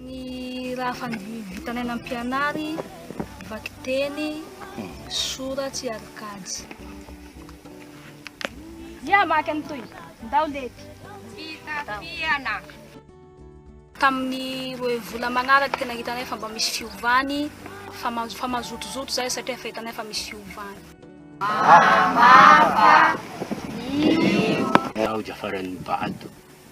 Ny raha fandividitana aina mpianary, vakiteny, soratsy ary kajy. Dia maka ny toy, ndao lety. Fitafiana. Tamin'ny roe volana manaraka tena hitanay fa mba misy fiovany fa fa mazotozoto zahay satria efa hitanay fa misy fiovany. Mahamava io. Aoja faran'ny bado.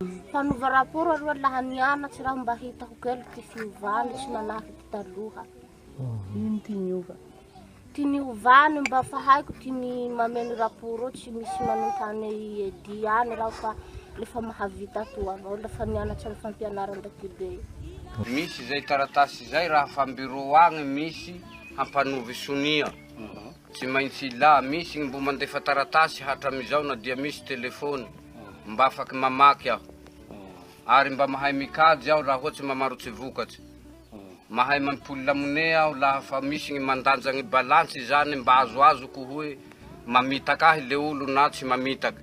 Mpanova rapport aloha laha nianatry raho mba hitako kely ty fiovany tsy manahy ty taloha. Ino ty niova? Ty niovany mba fa haiko ty ny mameno rapport eo tsy misy manontany Eddy any raho fa lefa mahavita atoa avao lefa nianatry am fampianaran-dakibe io. Misy zay taratasy zay raha fa am bureau agny misy hampanova sonia. Tsy maintsy ilà. Misy ny mbo mandefa taratasy hatramizao na dia misy telefony. Mba afaky mamaky aho. Ary mba mahay mikajy aho raha ohatsy mamarotsy vokatry. Mahay mampipolla money aho laha fa misy ny mandanja ny balance izany mba azoazoko hoe mamitaka ahy le olo na tsy mamitaka.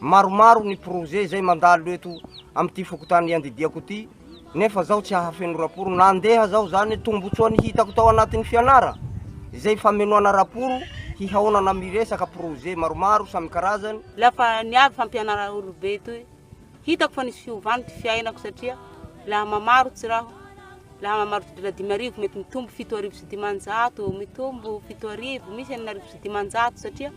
Maromaro ny projet izay mandalo eto amin'ity fokontany iandidiako ity nefa zaho tsy hahafeno raporo na andeha aza aho izany, tombotsoa ny hitako tao anatin'ny fianara izay famenoana raporo hihaonana amin'ny resaka projet maromaro samy karazany. La fa niavy fampianarana olobe itoy, hitako fa nisy fiovany ty fiainako satria la mamarotsy raho, la mamarotsy dola dimy arivo mety mitombo fito arivo sy dimanjato, mitombo fito arivo, misy enina arivo sy dimanjato satria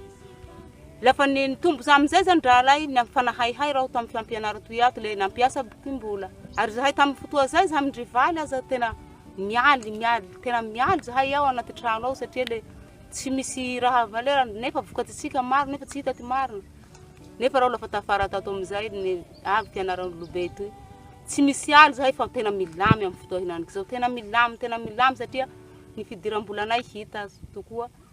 Lava ny nitombo za amizay zany rahalahy ny ampifanahaihay raho tam fiampianara toy ato le nampiasa boky mbola ary zahay tam fotoa zay za mindry valy aza tena mialy mialy tena mialy zahay ao anaty trano ao satria le tsy misy raha valeur nefa vokatry tsika maro nefa tsy hita ty marina nefa raho lafa tafara tato amizay ny avy ty anarany lobe toy tsy misy aly zahay fa tena milamy am fotoa henaniky zao tena milamy tena milamy satria ny fidiram-bolanay hita tokoa